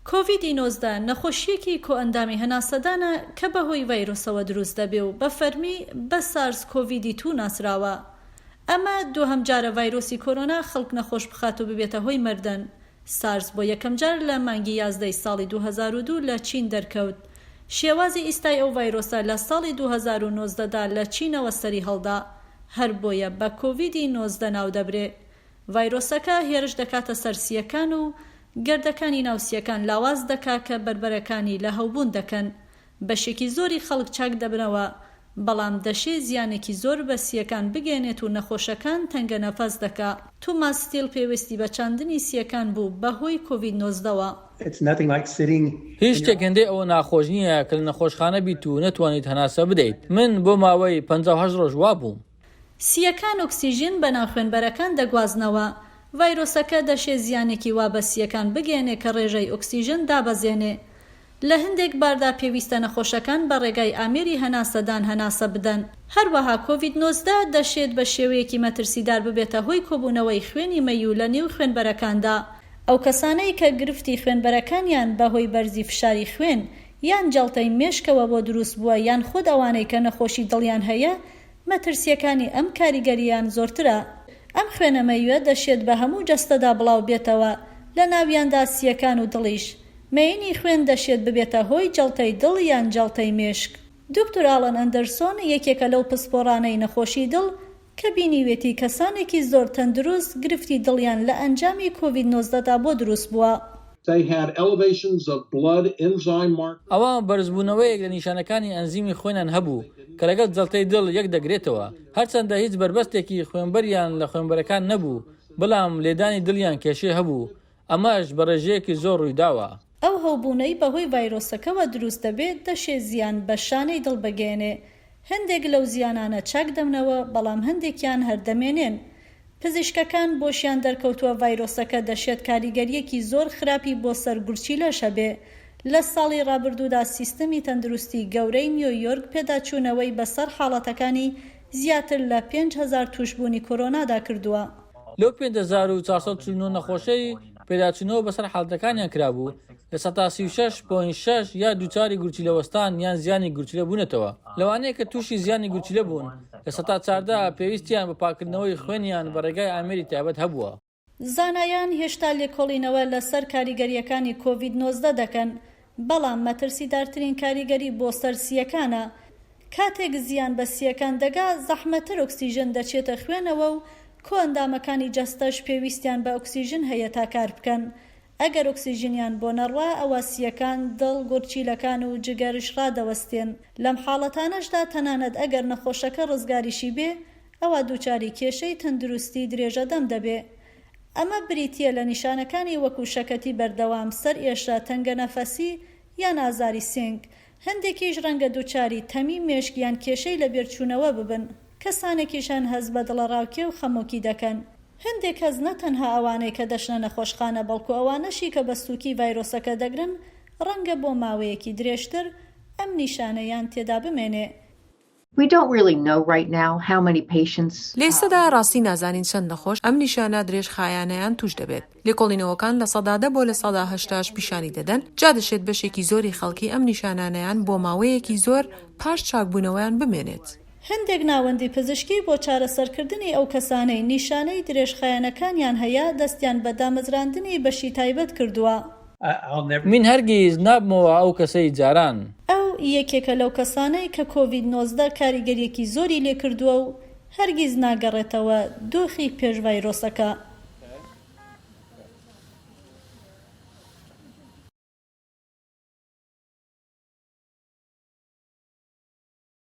کۆڤیدی نۆزدە نەخۆشییەکی کۆئەندامی هەناسەدانە کە بەهۆی ڤایرۆسەوە دروست دەبێ و بە فەرمی بە سارس کۆڤیدی توو ناسراوە. ئەمە دووهەم جارە ڤایرۆسی کۆرۆنا خەڵک نەخۆش بخات و ببێتە هۆی مردن. سارس بۆ یەکەم جار لە مانگی یازدەی ساڵی دوو هەزار و دوو لە چین دەرکەوت. شێوازی ئیستای ئەو ڤایرۆسە لە ساڵی دوو هەزار و نۆزدە دا لە چینەوە سەری هەڵدا. هەر بۆیە بە کۆڤیدی نۆزدە ناو دەبرێ. ڤایرۆسەکە هێرش دەکاتە سەر سییەکان و گردەکانی ناو سییەکان لاواز دەکا کە بەربەرەکانی لە هەوبوون دەکەن. بەشێکی زۆری خەڵک چاک دەبنەوە، بەڵام دەشێ زیانێکی زۆر بە سییەکان بگەیەنێت و نەخۆشەکان تەنگەنەفەس دەکا. توماس ستیل پێوستی بە چاندنی سییەکان بوو بەهۆی کۆڤید نۆزدەوە. هیچ شتێک هێندەی ئەوە ناخۆش نییە کە لە نەخۆشخانە بیت و نەتوانیت هەناسە بدەیت. من بۆ ماوەی پەنجا و هەشت ڕۆژ وا بووم. سییەکان ئۆکسیژن بە ناو خوێنبەرەکان دەگوازنەوە. ڤایرۆسەکە دەشێ زیانێکی وا بە سییەکان بگەیەنێ کە ڕێژەی ئۆکسیژن دابەزێنێ. لە هەندێک باردا پێویستە نەخۆشەکان بە ڕێگای ئامێری هەناسەدان هەناسە بدەن. هەروەها کۆڤید نۆزدە دەشێت بە شێوەیەکی مەترسیدار ببێتە هۆی کۆبوونەوەی خوێنی مەییو لە نێو خوێنبەرەکاندا. ئەو کەسانەی کە گرفتی خوێنبەرەکانیان بە هۆی بەرزی فشاری خوێن یان جەڵتەی مێشکەوە بۆ دروست بووە یان خود ئەوانەی کە نەخۆشی دڵیان هەیە مەترسییەکانی ئەم کاریگەرییەیان زۆرترە. ئەم خوێنە مەیوە دەشێت بە هەموو جەستەدا بڵاو بێتەوە، لە ناویاندا سییەکان و دڵیش. مەیینی خوێن دەشێت ببێتە هۆی جەڵتەی دڵ یان جەڵتەی مێشک. دوکتور ئالان ئەندەرسۆن یەکێکە لەو پسپۆڕانەی نەخۆشی دڵ کە بینیوێتی کەسانێکی زۆر تەندروست گرفتی دڵیان لە ئەنجامی کۆڤید نۆزدە دا بۆ دروست بووە. ئەوا بەرزبوونەوەیەک لە نیشانەکانی ئەنزیمی خوێنیان هەبوو کە لەگەڵ جەڵتەی دڵ یەک دەگرێتەوە، هەرچەندە هیچ بەربەستێکی خوێنبەریان لە خوێنبەرەکان نەبوو، بەڵام لێدانی دڵیان کێشەی هەبوو، ئەمەش بە ڕێژەیەکی زۆر ڕوویداوە. ئەو هەوبوونەی بەهۆی ڤایرۆسەکەوە دروست دەبێت دەشێ زیان بە شانەی دڵ بگەیەنێ، هەندێک لەو زیانانە چاک دەبنەوە، بەڵام هەندێکیان هەر دەمێنێن. پزیشکەکان بۆشیان دەرکەوتووە ڤایرۆسەکە دەشێت کاریگەرییەکی زۆر خراپی بۆ سەر گورچیلەش هەبێ. لە ساڵی ڕابردوودا سیستمی تەندروستی گەورەی نیۆ یۆرک پێداچوونەوەی بەسەر حاڵەتەکانی زیاتر لە پێنج هەزار تووشبوونی کۆرۆنادا کردووە. لەو پێنج هەزار و چوار سەد و چل و نۆ نەخۆشەی پێداچوونەوە بەسەر حاڵەتەکانیان کرابوو، لە سەتا سی و شەش پۆینت شەش یا دووچاری گورچیلە وەستان یان زیانی گورچیلە بوونەتەوە، لەوانەیە کە تووشی زیانی گورچیلە بوون لە سەتا چاردە پێویستیان بە پاککردنەوەی خوێنیان بە ڕێگای ئامێری تایبەت هەبووە. زانایان هێشتا لێکۆڵینەوە لەسەر کاریگەرییەکانی کۆڤید نۆزدە دەکەن، بەڵام مەترسیدارترین کاریگەری بۆ سەر سییەکانە. کاتێک زیان بە سییەکان دەگا، زەحمەتتر ئۆکسیژن دەچێتە خوێنەوە و کۆئەندامەکانی جەستەش پێویستیان بە ئۆکسیژن هەیە تا کار بکەن، ئەگەر ئۆکسیجنیان بۆ نەڕوا ئەوا سییەکان، دڵ، گورچیلەکان و جگەرش ڕادەوەستێن. لەم حاڵەتانەشدا تەنانەت ئەگەر نەخۆشەکە ڕزگاریشی بێ ئەوا دووچاری کێشەی تەندروستی درێژە دەم دەبێ. ئەمە بریتییە لە نیشانەکانی وەکو شەکەتی بەردەوام، سەرئێشە، تەنگەنەفەسی یان ئازاری سینگ. هەندێکیش ڕەنگە دووچاری تەمی مێشک یان کێشەی لەبیرچوونەوە ببن، کەسانێکیش هەن هەست بە دڵەڕاوکێ و خەمۆکی دەکەن. هەندێک کەس نە تەنها ئەوانەی کە دەچنە نەخۆشخانە بەڵکو ئەوانەشی کە بە سووکی ڤایرۆسەکە دەگرن ڕەنگە بۆ ماوەیەکی درێژتر ئەم نیشانەیان تێدا بمێنێ. لێستەدا ڕاستی نازانین چەند نەخۆش ئەم نیشانە درێژخایانەیان تووش دەبێت. لێکۆڵینەوەکان لە سەدا دە بۆ لە سەدا هەشتاش پیشانی دەدەن، جا دەشێت بەشێکی زۆری خەڵکی ئەم نیشانانەیان بۆ ماوەیەکی زۆر پاش چاکبوونەوەیان بمێنێت. هەندێک ناوەندی پزیشکی بۆ چارەسەرکردنی ئەو کەسانەی نیشانەی درێژخایەنەکانیان هەیە دەستیان بە دامەزراندنی بەشی تایبەت کردووە. من هەرگیز نابمەوە ئەو کەسەی جاران. ئەو یەکێکە لەو کەسانەی کە کۆڤید نۆزدە کاریگەریەکی زۆری لێکردووە و هەرگیز ناگەڕێتەوە دۆخی پێش ڤایرۆسەکە.